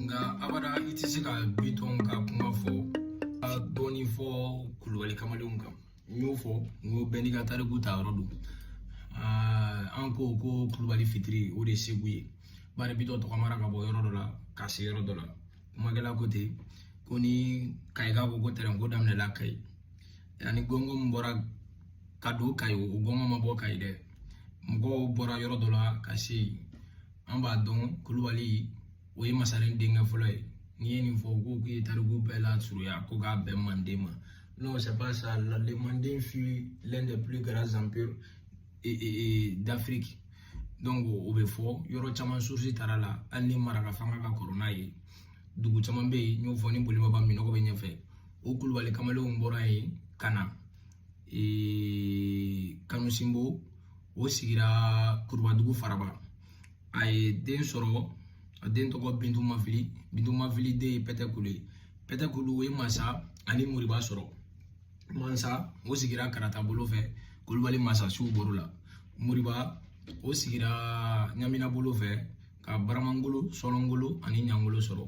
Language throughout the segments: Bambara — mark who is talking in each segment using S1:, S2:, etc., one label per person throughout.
S1: nka abada i tɛ se ka bitɔn ka kuma fɔ a dɔɔni fɔ kulubali kamalenw kan n y'o fɔ n ko bɛɛ n'i ka tariku ta yɔrɔ don an ko ko kulubali fitiri o de ye segu ye bari bitɔn tɔgɔmara ka bɔ yɔrɔ dɔ la ka se yɔrɔ dɔ la kumakɛla ko ten ko ni kayiga ko ko tɛrɛnko daminɛla kayi ani gɔngɔn min bɔra ka don kayi o gɔngɔn ma bɔ kayi dɛ mɔgɔw bɔra yɔrɔ dɔ la ka se yen an b'a dɔn kulubali o ye masaren denkɛ fɔlɔ ye n'i ye nin fɔ ko k'i ye tariku bɛɛ lasurunya ko k'a bɛn manden ma non c'est pas ça le manden fut l'un des plus grands empires d'Afrique donc o bɛ fɔ yɔrɔ caman source taara la hali ni maraka fanga ka kɔrɔ n'a ye dugu caman bɛ yen n y'o fɔ ni bolibaba minɔgɔ bɛ ɲɛfɛ o kulubali kamalenw bɔra yen ka na kanu sinbo o sigira kurubadugu faraba a ye den sɔrɔ a den tɔgɔ bintu mafili bintu mafili den ye pɛtɛ kulu ye pɛtɛ kulu o ye masa ani moriba sɔrɔ mansa o sigira karata bolo fɛ kulubali masasiw bɔr'o la moriba o sigira ɲamina bolo fɛ ka baramangolo sɔlɔngolo ani ɲangolo sɔrɔ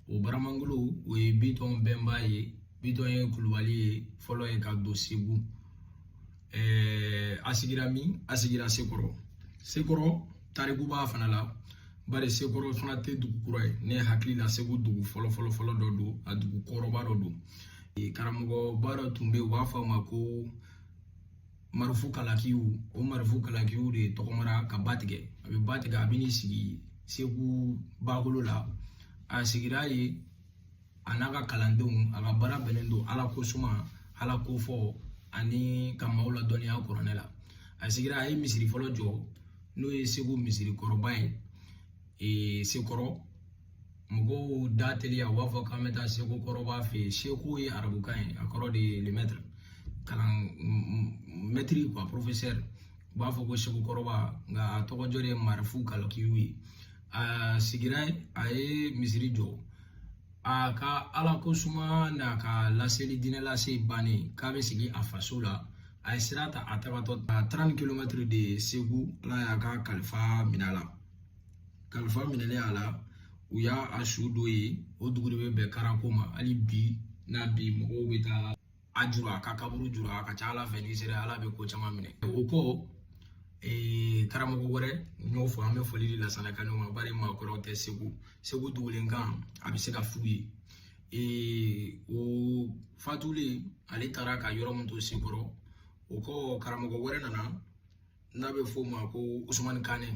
S1: o baramangolo o ye bitɔn bɛnba ye bitɔn ye kulubali ye fɔlɔ ye ka don segu ɛɛ a sigira min a sigira sekɔrɔ sekɔrɔ tariku b'a fana la bari sekɔrɔ fana tɛ dugu kura ye ne hakili la segu dugu fɔlɔ fɔlɔ fɔlɔ dɔ don a dugu kɔrɔba dɔ don karamɔgɔba dɔ tun bɛ yen u b'a fɔ a ma ko marifu kalakiw o marifu kalakiw de tɔgɔmara ka ba tigɛ a bɛ ba tigɛ a bɛ n'i sigi segu bakolo la a sigira yen a n'a ka kalandenw a ka baara bɛnnen don ala ko suma ala ko fɔ ani ka maaw ladɔnniya kuranɛ la a sigira a ye misiri fɔlɔ jɔ n'o ye segu misiri kɔrɔba ye ee sekɔrɔ mɔgɔw da teliya u b'a fɔ k'an bɛ taa seko kɔrɔba fɛ yen seko ye arabukan ye a kɔrɔ de ye le maître kalan maître quoi professeur u b'a fɔ ko seko kɔrɔba nka a tɔgɔjɔ de ye marifu kalakiw ye a sigira a ye misiri jɔ a ka ala ko suma n'a ka laseli diinɛ lase bannen k'a bɛ segin a faso la a ye sira ta a tagatɔ à trente kilomètres de segu ala y'a ka kalifa minɛ a la kalifa minɛlen a la u y'a su don yen o dugu de bɛ bɛn karako ma hali bi n'a bi mɔgɔw bɛ taa a juru a ka kaburu juru a ka ca ala fɛ n'i sera ala bɛ ko caman minɛ o kɔ ee karamɔgɔ wɛrɛ n y'o fɔ an bɛ foli di lasana kane ma bari maakɔrɔw tɛ segu segu dugulenkan a bɛ se ka f'u ye ee o fatulen ale taara ka yɔrɔ min to sekɔrɔ o kɔ karamɔgɔ wɛrɛ nana n'a bɛ f'o ma ko usumani kane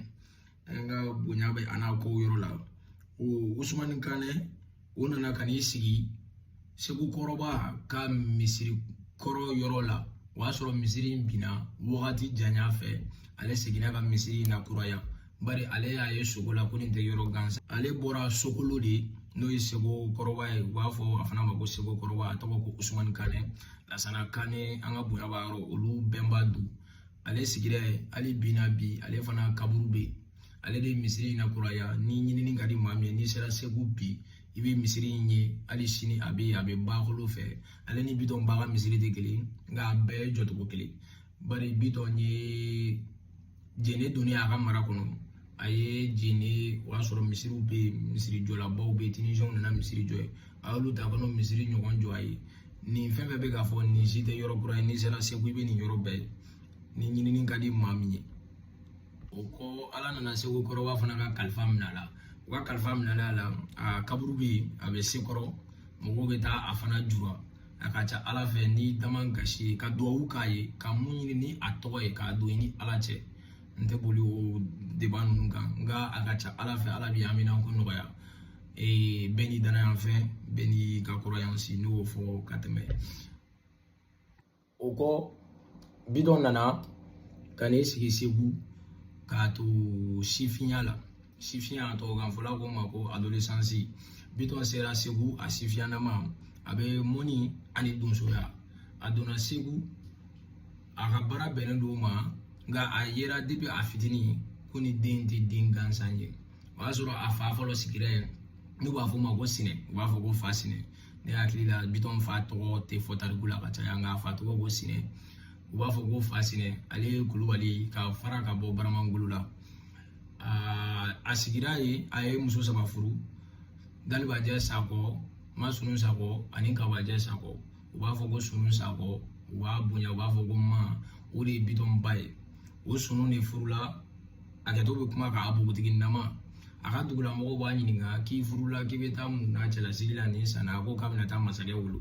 S1: an ka bonya bɛ a n'a ko yɔrɔ la o usumani kane o nana ka n'i sigi segu kɔrɔba ka misiri kɔrɔ yɔrɔ la o y'a sɔrɔ misiri in binna wagati janya fɛ ale seginna ka misiri in lakuraya bari ale y'a ye sugo la ko nin tɛ yɔrɔ gansan ale bɔra sokolo de n'o ye seko kɔrɔba ye u b'a fɔ a fana ma ko seko kɔrɔba a tɔgɔ ko usumani kane lasana kane an ka bonya b'a yɔrɔ olu bɛnba don ale sigira yen hali bi na bi ale fana kaburu bɛ yen ale de ye misiri in lakuraya ni ɲinini ka di maa min ye n'i sera segu bi i bɛ misiri in ye hali sini a bɛ yen a bɛ bakolo fɛ ale ni bitɔn ba ka misiri tɛ kelen nka a bɛɛ ye jɔcogo kelen bari bitɔn ye jene donni a ka mara kɔnɔ a ye jene o y'a sɔrɔ misiriw bɛ yen misiri jɔlabaw bɛ yen tinizɛnw nana misiri jɔ yen a y'olu ta ka n'o misiri ɲɔgɔn jɔ a ye nin fɛn fɛn bɛ ka fɔ nin si tɛ yɔrɔ kura ye n'i sera segu i bɛ nin yɔrɔ bɛɛ ye ni ɲinini ka di maa min ye o kɔ ala nana seko kɔrɔba fana ka kalifa minɛ a la u ka kalifa minɛ a la a kaburu bɛ yen a bɛ sekɔrɔ mɔgɔw bɛ taa a fana jura a ka ca ala fɛ ni dama gasi ka duwawu k'a ye ka mun ɲini ni a tɔgɔ ye k'a don i ni ala cɛ n tɛ boli o débat ninnu kan nka a ka ca ala fɛ ala bɛ haminanko nɔgɔya Ee bɛɛ n'i dannaya fɛn bɛɛ n'i ka croyance n y'o fɔ ka tɛmɛ o kɔ bitɔn nana ka n'i sigi segu k'a to sifinya la sifinya tubabukan fɔla k'o ma ko adolescence bitɔn sera segu a sifinyanama a bɛ mɔnni ani donsoya a donna segu a ka baara bɛnnen don o ma nka a yera depi a fitinin ko nin den tɛ den gansan ye o y'a sɔrɔ a fa fɔlɔ sigira yen n'u b'a fɔ o ma ko sinɛ u b'a fɔ ko fa sinɛ ne hakili la bitɔn fa tɔgɔ tɛ fɔ tariku la ka caya nka a fa tɔgɔ ko sinɛ u b'a fɔ ko fa sinɛ ale ye kulubali ka fara ka bɔ baramangolo la a sigira yen a ye muso saba furu dalibajɛ sakɔ ma sunu sakɔ ani kabajɛ sakɔ u b'a fɔ ko sunu sakɔ u b'a bonya u b'a fɔ ko ma o de ye bitɔn ba ye o sunu de furula hakɛto bɛ kuma kan a bogotiginama a ka dugulamɔgɔw b'a ɲininka k'i furula k'i bɛ taa mun na cɛlasigi la nin san na a ko k'a bɛna taa masakɛ wolo